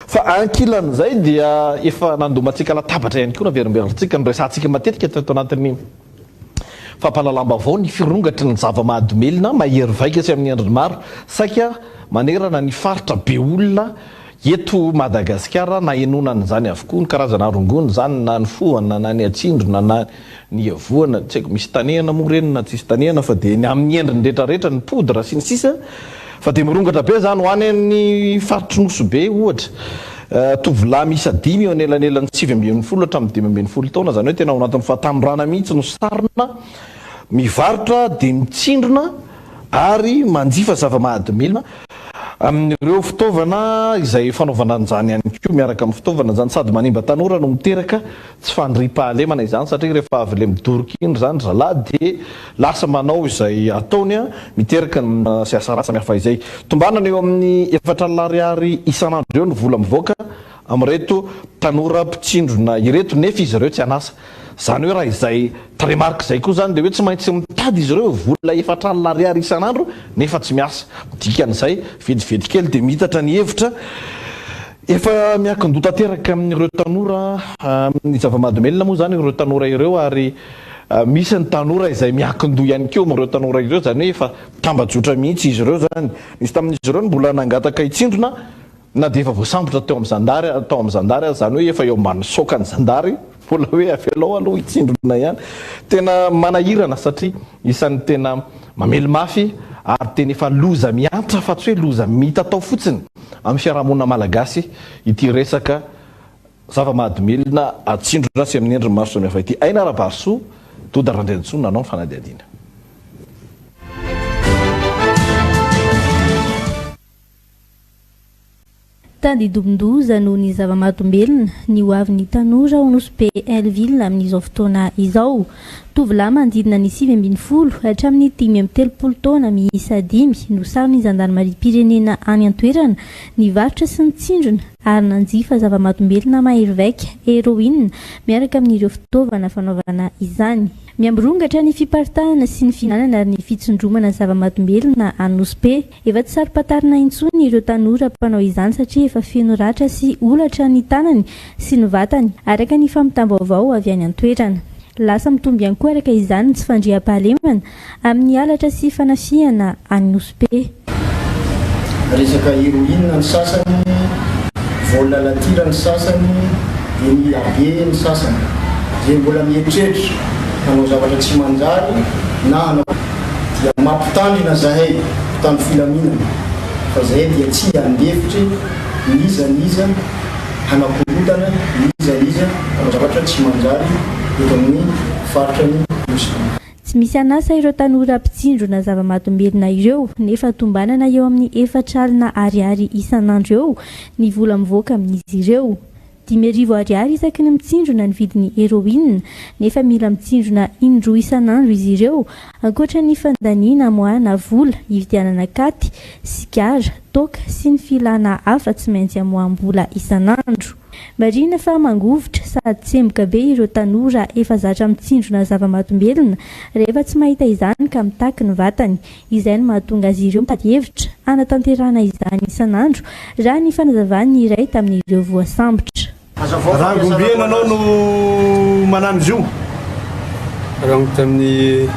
Fa ankilan'izay dia efa nandomantsika latabatra ihany koa, naverimberintsintsika, noresahantsika matetika teto anatin'ny fampahalalam-baovao ny firongatry ny zava-mahadomelina mahery vaika sy amin'ny endriny maro saika manerana ny faritra be olona eto Madagasikara. Nahenoana an'izany avokoa ny karazana rongony izany na ny fohana na ny atsindrona na Niavoana, tsy haiko misy tanehana moa ireny na tsisy tanehana fa dia ny amin'ny endriny rehetra rehetra, ny poudre sy ny sisa fa dia mirongatra be izany ho any amin'ny faritry Nosy Be ohatra. Tovolahy miisa dimy eo anelanelan'ny sivy ambin'ny folo hatramin'ny dimy ambin'ny folo taona izany hoe tena ao anatin'ny fahatanorana mihitsy no sarona mivarotra dia mitsindrona ary manjifa zava-mahadomelina amin'ireo fitaovana izay fanaovana an'izany ihany koa miaraka amin'ny fitaovana izany sady manimba tanora no miteraka Tsy fandriam-pahalemana izany satria rehefa avy ilay midoroka iny izany ry zalahy dia lasa manao izay ataony miteraka ny mora sy asa ratsy samihafa izay. Tombanana eo amin'ny efatra alina ariary isan'andro eo ny vola mivoaka amin'ireto tanora mpitsindrona ireto nefa izy ireo tsy an'asa. Izany hoe raha izay tarehimarika izay koa izany dia hoe tsy maintsy mitady izy ireo vola efatra alina ariary isan'andro nefa tsy miasa. Dikan'izay, vedivedikely dia miitatra ny hevitra. Efa miankin-doha tanteraka amin'ireo tanora ny zava-mahadomelina moa izany ireo tanora ireo ary misy ny tanora izay miankin-doha ihany koa amin'ireo tanora ireo izany hoe efa tambajotra mihitsy izy ireo izany. Nisy tamin'izy ireo ny mbola nangataka hitsindrona na dia efa voasambotra teo amin'ny zandary tao amin'ny zandary aza izany hoe efa eo ambany saokan'ny zandary. Mbola hoe avelao aloha hitsindrona ihany. Tena manahirana satria isan'ny tena mamely mafy ary tena efa loza miantra fa tsy hoe loza mitatao fotsiny amin'ny fiarahamonina malagasy ity resaka zava-mahadomelina atsindrona sy amin'ny endriny maro samihafa ity. Aina Rabarisoa, Doda Randriantsoa nanao ny fanadihadiana. Tandindomin-doza noho ny zava-mahadomelina ny ho avin'ny tanora ao Nosy Be Hellville amin'izao fotoana izao. Tovolahy manodidina ny sivy ambin'ny folo hatramin'ny dimy amby telopolo taona miisa dimy no saron'ny zandarimariam-pirenena any an-toerana nivarotra sy nitsindrona ary nanjifa zava-mahadomelina mahery vaika, heroine, miaraka amin'ireo fitaovana fanaovana izany. Miha mirongatra ny fiparitahana sy ny fihinanana ary ny fitsindromana zava-mahadomelina any Nosy Be. Efa tsy saro-pantarina intsony ireo tanora mpanao izany satria efa feno ratra sy holatra ny tanany sy ny vatany, araka ny fampitam-baovao avy any an-toerana. Lasa mitombo ihany koa araka izany ny tsy fandriampahalemana amin'ny halatra sy fanafihana any Nosy Be. Resaka heroine ny sasany, vol à la tire ny sasany, eny Iabe ny sasany. Dia mbola mieritreritra hanao zavatra tsy manjary na hanao. dia mampitandrina zahay mpitandro filaminana fa zahay dia tsy handefitry n'iza n'iza hanakorontana n'iza n'iza amin'ny zavatra tsy manjary eto amin'ny faritra ny Nosy. Tsy misy an'asa ireo tanora mpitsindrona zava-mahadomelina ireo nefa tombanana eo amin'ny efatra alina ariary isan'andro eo ny vola mivoaka amin'izy ireo. Dimy arivo ariary isaky ny mitsindrona ny vidin'ny heroine, nefa mila mitsindrona in-droa isan'andro izy ireo, ankoatra ny fandaniana mois na vola, hividianana katy, sigara, toaka sy ny filana hafa tsy maintsy amoaham-bola isan'andro. Marihina fa mangovitra sady tsemboka be ireo tanora efa zatra mitsindrona zava-mahadombelona rehefa tsy mahita izany ka mitaky ny vatany. izay no mahatonga azy ireo mitady hevitra hanatanterahana izany isan'andro, raha ny fanazavan'ny iray tamin'ireo voasambotra. Rangombe nanao no manano izy io. Rango tamin'ny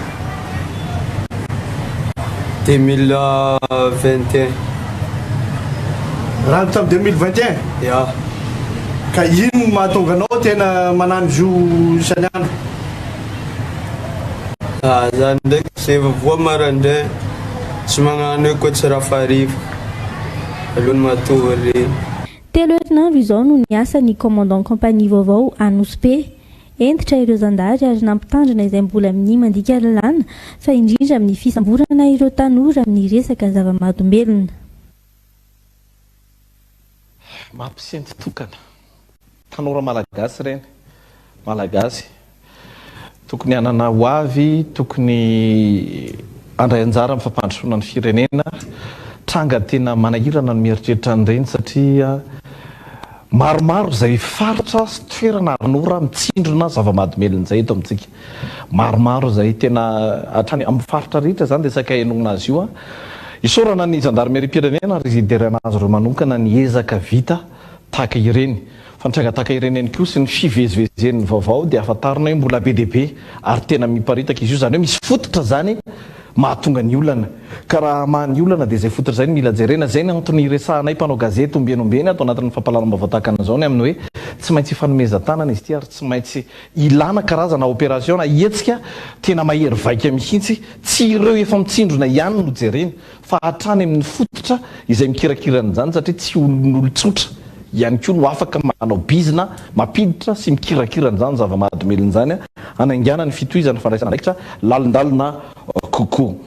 deux mille vingt et un. Rango tamin'ny deux mille vingt et un? Ya. Ka inona no mahatonga anao tena manano izy io isan'andro? Ah zany ndraiky sehfa voa marandraigny tsy magnano hoe koa tsy raha fariva alohan'ny matory e. Telo herinandro izao no niasa ny commandant compagnie vaovao Anosibe. Hentitra ireo zandary ary nampitandrina izay mbola minia mandika lalàna fa indrindra amin'ny fisamborana ireo tanora amin'ny resaka zava-mahadombelona. Mampisento tokana. Tanora malagasy ireny. Malagasy. Tokony hanana ho avy, tokony handray anjara amin'ny fampandrosoana ny firenena. Tranga tena manahirana ny mieritreritra an'ireny satria maromaro izay faritra sy toerana ary an'ora mitsindrona zava-mahadomelina izay eto amintsika. Maromaro izay tena hatrany amin'ny faritra rehetra izany resaka henoina azy io. Isaorana ny zandarimeriam-pirenena ary hiderana azy ireo manokana ny ezaka vita tahaka ireny. Fa ny tranga tahaka ireny ihany koa sy ny fivezivezen'ny vaovao dia hafantarina hoe mbola be dia be ary tena miparitaka izy io. Izany hoe misy fototra izany mahatonga ny olana. Ka raha hamaha ny olana dia izay fototra izay no mila jerena. Izay ny antony iresahanay mpanao gazety ombieny ombieny ato anatin'ny fampahalalam-baovao tahaka an'izao ny amin'ny hoe tsy maintsy ifanomezan-tanana izy ity ary tsy maintsy Ilana karazana operation na hetsika tena mahery vaika mihitsy, tsy ireo efa mitsindrona ihany no jerena fa hatrany amin'ny fototra izay mikirakira an'izany satria tsy olon'olon-tsotra ihany koa no afaka manao bizina mampiditra sy mikirakira an'izany zava-mahadomelina izany hanaingana ny fitohizan'ny fandraisana andraikitra lalindalina kokoa.